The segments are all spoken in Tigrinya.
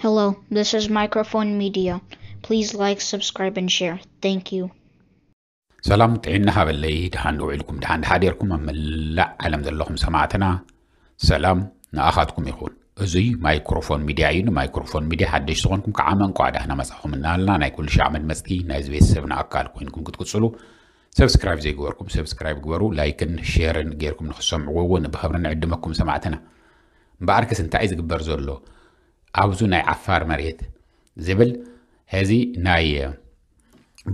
Hello, this is Microphone Media. Please like, subscribe, and share. Thank you. ሰላም ጥዒና ሃበለይ ድሓን ውዒልኩም ድሓን ድሓዴርኩም ኣብ መላእ ዓለም ዘለኹም ሰማዕትና ሰላም ንኣኻትኩም ይኹን እዙይ ማይክሮፎን ሚድያ እዩ ንማይክሮፎን ሚድያ ሓደሽ ዝኾንኩም ከዓ መንቋ ዳህና መፃኹም እናሃልና ናይ ኩሉ ሻዕ መድመፅቲ ናይዚ ቤተሰብና ኣካል ኮይንኩም ክትቅፅሉ ሰብስክራይብ ዘይግበርኩም ሰብስክራይብ ግበሩ ላይክን ሼርን ጌርኩም ንክሰምዕዎ እውን ብክብሪ ንዕድመኩም ሰማዕትና እምበኣርከስ እንታይ እዩ ዝግበር ዘሎ ኣብዚ ናይ ዓፋር መሬት ዝብል ሕዚ ናይ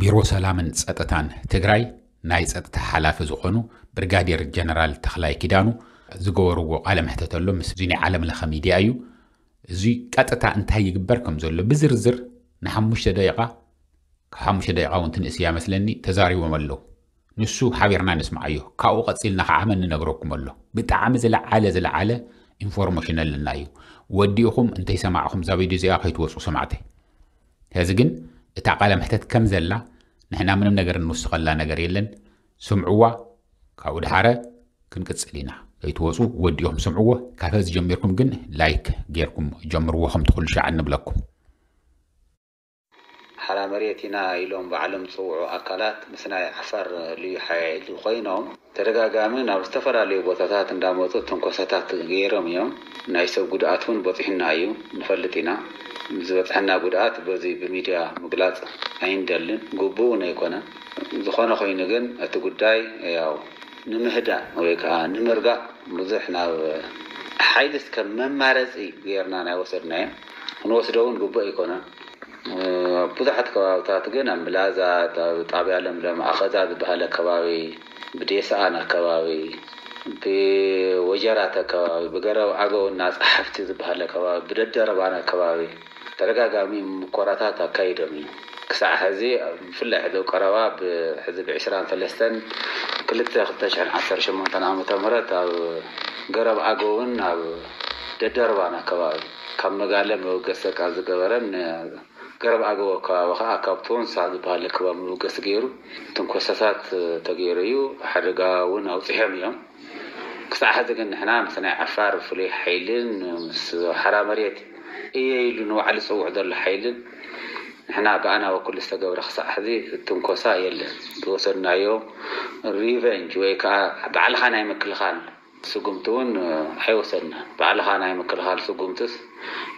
ቢሮ ሰላምን ፀጥታን ትግራይ ናይ ፀጥታ ሓላፊ ዝኾኑ ብርጋዴር ጀነራል ተኽላይ ኪዳኑ ዝገበርዎ ቃለ መሕተት ኣሎ ምስ እዚ ናይ ዓለም ለኸ ሚድያ እዩ እዚ ቀጥታ እንታይ ይግበር ከም ዘሎ ብዝርዝር ንሓሙሽተ ደቂቓ ካብ ሓሙሽተ ደቂቓ እውን ትንእስ እያ መስለኒ ተዛሪቦም ኣለዉ ንሱ ሓቢርና ንስምዓዮ ካብኡ ቀጺልና ካዓ መን ንነግረኩም ኣሎ ብጣዕሚ ዝለዓለ ዝለዓለ ኢንፎርሞሽን ኣለና እዩ ወዲእኹም እንተይሰማዕኹም እዛ ቪድዮ እዚኣ ከይትወጹ ሰማዕተይ ስለዚ ግን እታ ቃለ መሕተት ከም ዘላ ንሕና ምንም ነገር እንውስኸላ ነገር የለን ስምዕዋ ካብኡ ድሓረ ክንቅጽል ኢና ከይትወፁ ወዲኦም ስምዕዎ ካብ ሀዚ ጀሚርኩም ግን ላይክ ጌርኩም ጀምርዎ ከምቲ ኩሉ ሻዕ እንብለኩም ሓራ መሬት ኢና ኢሎም ባዕሎም ዝፅውዑ ኣካላት ምስ ናይ ዓፋር ልዩ ሓይሊ ኮይኖም ተደጋጋሚ ናብ ዝተፈላለዩ ቦታታት እንዳመፁ ትንኮሳታት ገይሮም እዮም። ናይ ሰብ ጉድኣት እውን በፂሑና እዩ ንፈልጥ ኢና። ዝበፅሐና ጉድኣት በዙይ ብሚድያ ምግላፅ ኣይንደልን ግቡእ እውን ኣይኮነን። ዝኾነ ኮይኑ ግን እቲ ጉዳይ ያው ንምህዳእ ወይ ከዓ ንምርጋእ ብዙሕ ናብ ሓይሊ እስከ መማረፂ ገይርና ናይ ወሰድናዮ። ክንወስዶ ውን ግቡእ ኣይኮነን። ኣብ ብዙሓት ከባብታት ግን ኣብ ምላዛት፣ ኣብ ጣብያ ለምለም ኣኸዛ ዝበሃል ኣከባቢ፣ ብዴስኣን ኣከባቢ፣ ብወጀራት ኣከባቢ፣ ብገረብ ኣገው እና ፀሓፍቲ ዝበሃል ኣከባቢ፣ ብደደርባን ኣከባቢ ተደጋጋሚ ሙኮራታት ኣካይዶም እዮም። ክሳዕ ሕዚ ብፍላይ ሕዚ ኣብ ቀረባ ብ ሕዚ ብ ዕስራን ሰለስተን ክልተ ክልተ ሽሕን ዓሰርተ ሸሞንተን ዓመተ ምህረት ኣብ ገረብ ኣገውን ኣብ ደደርባን ኣከባቢ ካብ መጋለ መበገሲ ቃል ዝገበረን ንገረብ ኣገው ኣከባቢ ከኣ ካብ ቶንሳ ዝበሃል ለከባብ መበገሲ ገይሩ ትንኮሳታት ተገይሩ እዩ። ሓደጋ እውን ኣውጺሖም እዮም። ክሳዕ ሕዚ ግን ንሕና ምስ ናይ ዓፋር ፍሉይ ሓይልን ምስ ሓራ መሬት እየ ኢሉ ንባዕሉ ዝጽውዕ ዘሎ ሓይልን ንሕና ብኣና በኩል ዝተገብረ ክሳዕ ሕዚ ትንኮሳ የለን። ዝወሰድናዮ ሪቨንጅ ወይ ከኣ ባዕልኻ ናይ ምክልኻል ስጉምቲ እውን ኣይወሰድናን። ባዕልኻ ናይ ምክልኻል ስጉምትስ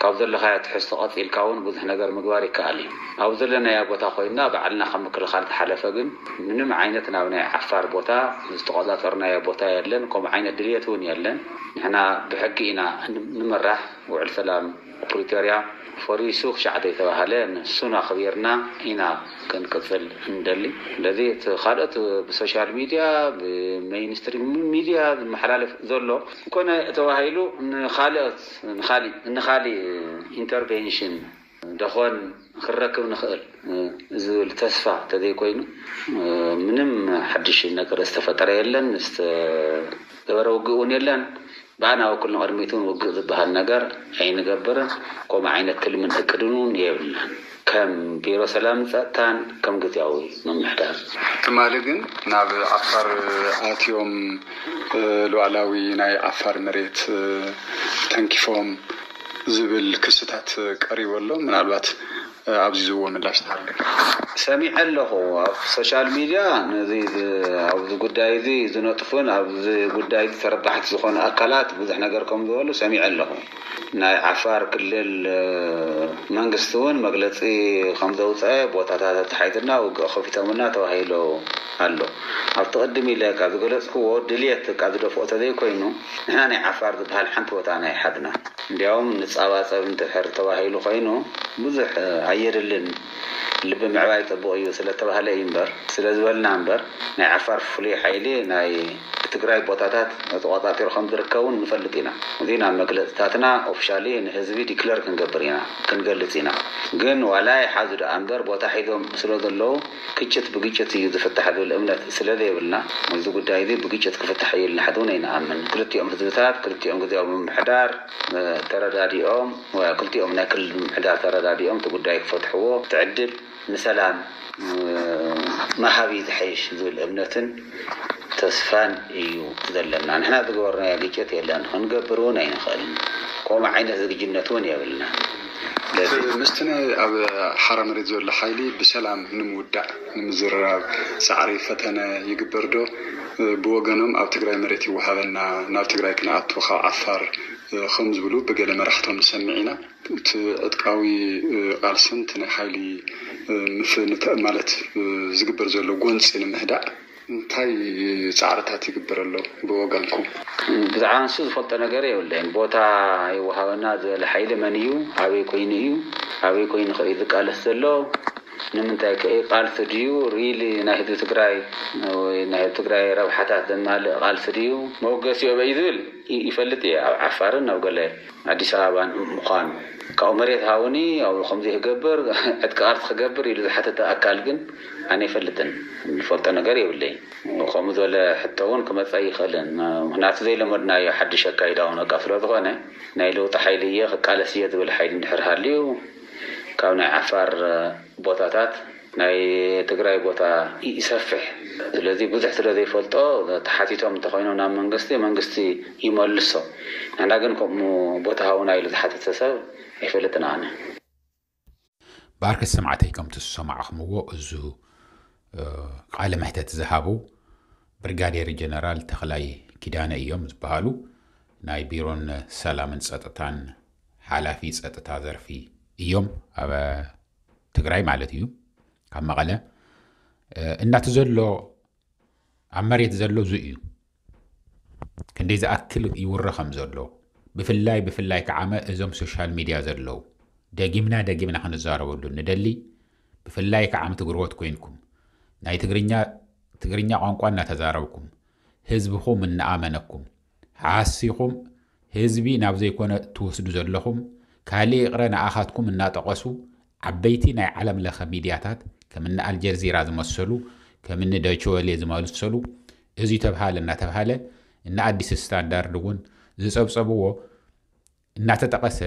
ካብ ዘለኻዮ ትሕዝቶ ቀጺልካ እውን ብዙሕ ነገር ምግባር ይከኣል እዩ። ኣብ ዘለናዮ ቦታ ኮይንና ባዕልና ካብ ምክልኻል ዝሓለፈ ግን ምንም ዓይነት ናብ ናይ ዓፋር ቦታ ዝተቖጻጸርናዮ ቦታ የለን ከምኡ ዓይነት ድልየት እውን የለን። ንሕና ብሕጊ ኢና ንምራሕ ውዕል ሰላም ፕሪቶርያ ፈሪሱ ክሻዕ ዘይተባህለ ንሱን ኣኽቢርና ኢና ክንቅፅል እንደሊ። ስለዚ እቲ ካልኦት ብሶሻል ሚድያ ብመይንስትሪም ሚድያ ዝመሓላለፍ ዘሎ ኮነ ተባሂሉ ንካልኦት ንካሊእ ንካሊእ ኢንተርቬንሽን ደኾን? ክንረክብ ንኽእል ዝብል ተስፋ ተዘይኮይኑ ምንም ሓድሽ ነገር ዝተፈጠረ የለን፣ ዝተገበረ ውግእ እውን የለን። ብኣና በኩል ንቕድሚት እውን ውግእ ዝበሃል ነገር ኣይንገብርን፣ ከምኡ ዓይነት ትልምን እቅድን እውን የብልናን ከም ቢሮ ሰላምን ፀጥታን ከም ግዝያዊ ምምሕዳር። ትማሊ ግን ናብ ዓፋር ኣትዮም ሉኣላዊ ናይ ዓፋር መሬት ተንኪፎም ዝብል ክስታት ቀሪቡ ኣሎ ምናልባት ኣብዚ ዝብዎ ምላሽ ተሃልዩካ። ሰሚዐ ኣለኹ ኣብ ሶሻል ሚድያ ነዚ ኣብዚ ጉዳይ እዚ ዝነጥፉን ኣብዚ ጉዳይ እዚ ተረባሕቲ ዝኾኑ ኣካላት ብዙሕ ነገር ከም ዝበሉ ሰሚዐ ኣለኹ። ናይ ዓፋር ክልል መንግስቲ እውን መግለፂ ከም ዘውፀኣ ቦታታት ኣተሓሒዙልና ውግእ ከፊቶምልና ተባሂሉ ኣሎ። ኣብቲ ቅድም ኢለ ካብ ዝገለፅክዎ ድልየት እካ ዝደፍኦ ተዘይኮይኑ፣ ንሕና ናይ ዓፋር ዝብሃል ሓንቲ ቦታ ናይ ሓድና እንድያውም ንጻባጸብ እንትሕር ተባሂሉ ኮይኑ ብዙሕ ኣየድልን ልቢ ምዕባይ ጽቡቅ እዩ ስለተባህለ እዩ እምበር ስለዝበልና እምበር ናይ ዓፋር ፍሉይ ሓይሊ ናይ ትግራይ ቦታታት ተቆጻጺሩ ከምዝርከብ ውን ንፈልጥ ኢና እዚ ናብ መግለጽታትና ኦፍሻሊ ንህዝቢ ዲክለር ክንገብር ኢና ክንገልጽ ኢና ግን ዋላ ይሓዙ ድኣ እምበር ቦታ ሒዞም ስለዘለዉ ግጭት ብግጭት እዩ ዝፍታሕ ዝብል እምነት ስለዘይብልና እዚ ጉዳይ እዚ ብግጭት ክፍታሕ እዩ ኢልና ሕዚ እውን ኣይንኣምን። ክልቲኦም ህዝብታት ክልቲኦም ግዝያዊ ምምሕዳር ተረዳዲኦም ወይ ኣብ ክልቲኦም ናይ ክልል ምምሕዳር ተረዳዲኦም እቲ ጉዳይ ክፈትሕዎ እቲ ዕድል ንሰላም ምሃብ እዩ ዝሐይሽ ዝብል እምነትን ተስፋን እዩ ዘለና። ንሕና ዝገበርናዮ ግጭት የለን ክንገብር እውን ኣይንኽእልን ከምኡ ዓይነት ዝግጁነት እውን የብልናን። ስለዚ ምስቲ ናይ ኣብ ሓራ መሬት ዘሎ ሓይሊ ብሰላም ንምውዳእ ንምዝርራብ ፃዕሪ፣ ፈተነ፣ ይግበር ዶ? ብወገኖም ኣብ ትግራይ መሬት ይወሃበና ናብ ትግራይ ክንኣቱ ካብ ዓፋር ከምዝብሉ ብገለ መራሕቶም ንሰምዕ ኢና። እቲ ዕጥቃዊ ቃልስን እቲ ናይ ሓይሊ ምፍ ማለት ዝግበር ዘሎ ጎንፂ ንምህዳእ፣ እንታይ ጻዕርታት ይግበር ኣሎ ብወገንኩም? ብዛዕባ ንሱ ዝፈልጦ ነገር የብለይን። ቦታ ይወሃበና ዝበለ ሓይሊ መን እዩ? ኣበይ ኮይኑ እዩ? ኣበይ ኮይኑ ከ እዩ ዝቃለስ ዘሎ? ንምንታይ ከ እዩ? ቃልሲ ድዩ really ናይ ህዝቢ ትግራይ ወይ ናይ ህዝቢ ትግራይ ረብሓታት ዘማልእ ቃልሲ ድዩ? መበገሲኡ ኣበይ እዩ ዝብል ይፈልጥ እየ ኣብ ዓፋርን ኣብ ገለ። ኣዲስ ኣበባ ምዃኑ ካብኡ መሬት ሃቡኒ ኣብኡ ከምዚ ክገብር ዕጥቂ ቃልሲ ክገብር ኢሉ ዝሓተተ ኣካል ግን ኣነ ኣይፈልጥን ዝፈልጦ ነገር የብለይን ከምኡ ዝበለ ሕቶ እውን ክመፅ ኣይኽእልን ምኽንያቱ ዘይለመድናዮ ሓድሽ ኣካይዳ እውን በቃ ስለዝኾነ ናይ ለውጢ ሓይሊ እየ ክቃለስ እየ ዝብል ሓይሊ እንድሕር ሃልዩ ካብ ናይ ዓፋር ቦታታት ናይ ትግራይ ቦታ ይሰፍሕ ስለዚ ብዙሕ ስለ ዘይፈልጦ ተሓቲቶም እንተኾይኖም ናብ መንግስቲ መንግስቲ ይመልሶ ንሕና ግን ከምኡ ቦታ ሃቡና ኢሉ ዝሓተተ ሰብ ኣይፈልጥን ኣነ። ብኣርከ ሰማዕተይ ከምቲ ዝሰማዕኽምዎ እዙ ቃለ መሕተት ዝሃቡ ብርጋዴር ጀነራል ተኽላይ ኪዳነ እዮም ዝበሃሉ ናይ ቢሮን ሰላምን ፀጥታን ሓላፊ ፀጥታ ዘርፊ እዮም። ትግራይ ማለት እዩ ካብ መቐለ እናቲ ዘሎ ኣብ መሬት ዘሎ ዙ እዩ ክንደይ ዝኣክል ይውረ ከም ዘሎ ብፍላይ ብፍላይ ከዓመ እዞም ሶሻል ሚድያ ዘለዉ ደጊምና ደጊምና ክንዛረበሉ ንደሊ ብፍላይ ከዓም ትግርወት ኮይንኩም ናይ ትግርኛ ቋንቋ እናተዛረብኩም ህዝብኹም እናኣመነኩም ሓሲኹም ህዝቢ ናብ ዘይኮነ ትወስዱ ዘለኹም ካልእ ይቕረ ንኣኻትኩም እናጠቐሱ ዓበይቲ ናይ ዓለም ለኸ ሚድያታት ከምኒ ኣልጀርዚራ ዝመሰሉ ከምኒ ደችወሌ ዝመሰሉ እዙይ ተብሃለ እናተብሃለ እነ ኣዲስ ስታንዳርድ እውን ዝፀብፀብዎ እናተጠቐሰ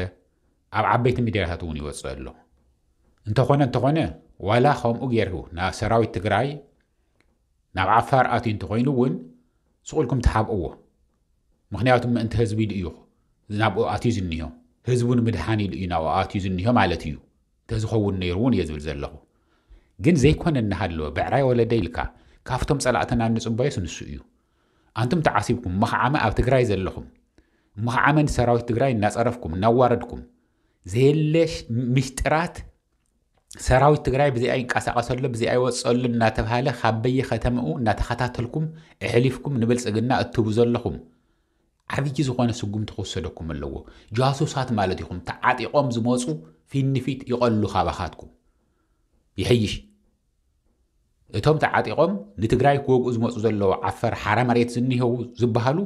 ኣብ ዓበይቲ ሚድያታት እውን ይወፅእ ኣሎ። እንተኾነ እንተኾነ ዋላ ከምኡ ገይሩ ናብ ሰራዊት ትግራይ ናብ ዓፋር ኣትዩ እንተኾይኑ እውን ስቑልኩም ተሓብእዎ ምክንያቱ ምእንቲ ህዝቢ ኢሉ እዩ ናብኡ ኣትዩ ዝኒሆ ህዝቡ ንምድሓን ኢሉ እዩ ናብኡ ኣትዩ ዝኒሆ ማለት እዩ ተዝኸውን ነይሩ እውን እየ ዝብል ዘለኹ ግን ዘይኮነ እናሃለወ ብዕራይ ወለደ ኢልካ ካብቶም ፀላእትና እንፅበዮስ ንሱ እዩ ኣንቱም ተዓሲብኩም መኽዓመ ኣብ ትግራይ ዘለኹም መኽዓመ ንሰራዊት ትግራይ እናፀረፍኩም እናዋረድኩም ዘየለ ምሽጥራት ሰራዊት ትግራይ ብዚኣ ይንቀሳቐሰሎ ብዚኣ ይወፀሉ እናተብሃለ ካብ በየከተምኡ እናተኸታተልኩም እሕሊፍኩም ንብልፅግና እትህቡ ዘለኹም ዓብዪ ዝኾነ ስጉምቲ ክወሰደኩም ኣለዎ ጃሱሳት ማለት ኢኹም ተዓጢቖም ዝመፁ ፊት ንፊት ይቐሉ ካባኻትኩም ይሕይሽ እቶም ተዓጢቆም ንትግራይ ክወግኡ ዝመፁ ዘለዉ ዓፈር ሓራ መሬት ዝኒሀዉ ዝባሃሉ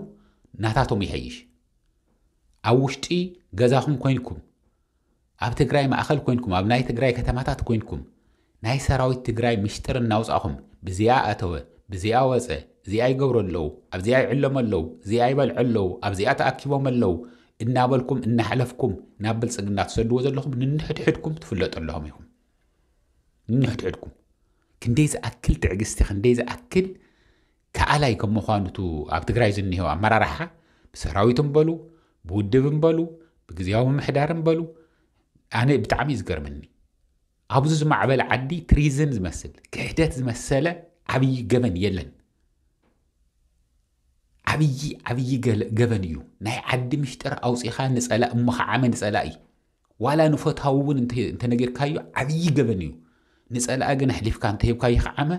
ናታቶም ይሐይሽ ኣብ ዉሽጢ ገዛኹም ኮይንኩም ኣብ ትግራይ ማእኸል ኮይንኩም ኣብ ናይ ትግራይ ከተማታት ኮይንኩም ናይ ሰራዊት ትግራይ ምሽጥር እናውፃኹም ብዚኣ ኣተወ ብዚኣ ወፀ እዚኣ ይገብሩ ኣለዉ ኣብዚኣ ይዕለሙ ኣለዉ እዚኣ ይበልዑ ኣለዉ ኣብዚኣ ተኣኪቦም ኣለዉ እናበልኩም እናሕለፍኩም ናብ ብልፅግና ትሰድዎ ዘለኹም ንንሕድሕድኩም ትፍለጡ ኣለኹም ኢኹም ንንሕድሕድኩም ክንደይ ዝኣክል ትዕግስቲ ክንደይ ዝኣክል ከኣላይ ከም ምዃኑ ቱ ኣብ ትግራይ ዝኒሄው ኣመራርሓ ብሰራዊት እምበሉ ብውድብ እምበሉ ብግዜያዊ ምሕዳር እምበሉ ኣነ ብጣዕሚ እዩ ዝገርመኒ ኣብዚ ዝማዕበለ ዓዲ ትሪዝን ዝመስል ክሕደት ዝመሰለ ዓብዪ ገበን የለን ዓብዪ ዓብዪ ገበን እዩ ናይ ዓዲ ምሽጥር ኣውፂኻ ንፀላ እሞ ከዓመ ንፀላኢ ዋላ ንፈታዊ እውን እንተነጊርካዮ ዓብዪ ገበን እዩ። ንጸላኢ ግን ኣሕሊፍካ እንተሂብካ ይኽዓመ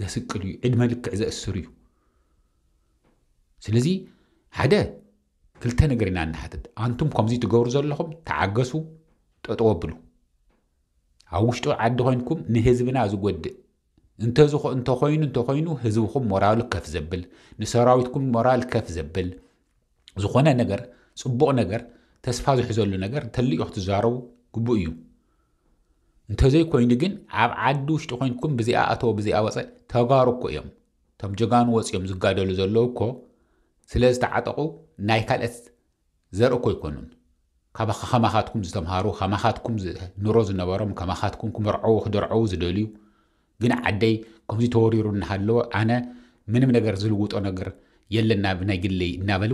ዘስቅል እዩ፣ ዕድመ ልክዕ ዘእስር እዩ። ስለዚ ሓደ ክልተ ነገር ኢና ንሓትት ኣንቱም ከምዚ ትገብሩ ዘለኹም ተዓገሱ ጠጠወ ኣብሉ ኣብ ውሽጢ ዓዲ ኮይንኩም ንህዝብና ዝጎድእ እንተዝኾ እንተኾይኑ እንተኾይኑ ህዝብኹም ሞራሉ ከፍ ዘብል ንሰራዊትኩም ሞራል ከፍ ዘብል ዝኾነ ነገር ጽቡቕ ነገር ተስፋ ዝሕዘሉ ነገር እንተልዩ ክትዛረቡ ግቡእ እዩ እንተዘይኮይኑ ግን ኣብ ዓዲ ውሽጢ ኮንኩም ብዚኣ ኣተወ ብዚኣ ወፀ ተጋሩ እኮ እዮም እቶም ጀጋኑ ወፂኦም ዝጋደሉ ዘለዉ እኮ ስለ ዝተዓጠቑ ናይ ካልኦት ዘርኢ እኮ ኣይኮኑን ካባካ ከማካትኩም ዝተምሃሩ ከማካትኩም ኑሮ ዝነበሮም ከማካትኩም ክምርዐዉ ክድርዐዉ ዝደልዩ ግን ዓደይ ከምዚ ተወሪሩ እናሃለወ ኣነ ምንም ነገር ዝልውጦ ነገር የለን ናብ ናይ ግለይ እናበሉ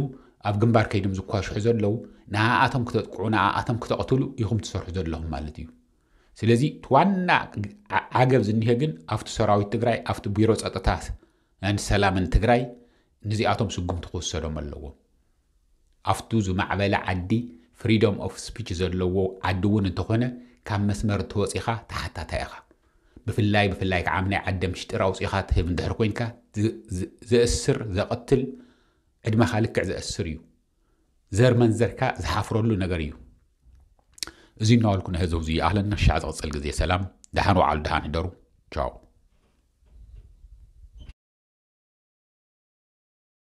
ኣብ ግንባር ከይዶም ዝኳሽሑ ዘለዉ ንኣኣቶም ክተጥቅዑ ንኣኣቶም ክተቕትሉ ኢኹም ትሰርሑ ዘለኹም ማለት እዩ ስለዚ እቲ ዋና ዓገብ ዝኒሀ ግን ኣብቲ ሰራዊት ትግራይ ኣብቲ ቢሮ ፀጥታ ሰላምን ትግራይ ንዚኣቶም ስጉምቲ ክውሰዶም ኣለዎ። ኣፍቱ ዝማዕበለ ዓዲ ፍሪዶም ኦፍ ስፒች ዘለዎ ዓዲ እውን እንተኾነ ካብ መስመር እንተወጺኻ ተሓታታይ ኢኻ። ብፍላይ ብፍላይ ከዓ ኣብናይ ዓደ ምሽጢር ኣውጺኻ ትህብ እንድሕር ኮይንካ ዘእስር ዘቐትል ዕድመኻ ልክዕ ዘእስር እዩ። ዘር መንዘርካ ዝሓፍረሉ ነገር እዩ እዚ እናበልኩ ናይ ህዝብ እዚ ይኣክለና ሻዕ ዝቕፅል ግዜ ሰላም ደሓን ወዓሉ ደሓን ህደሩ ቻው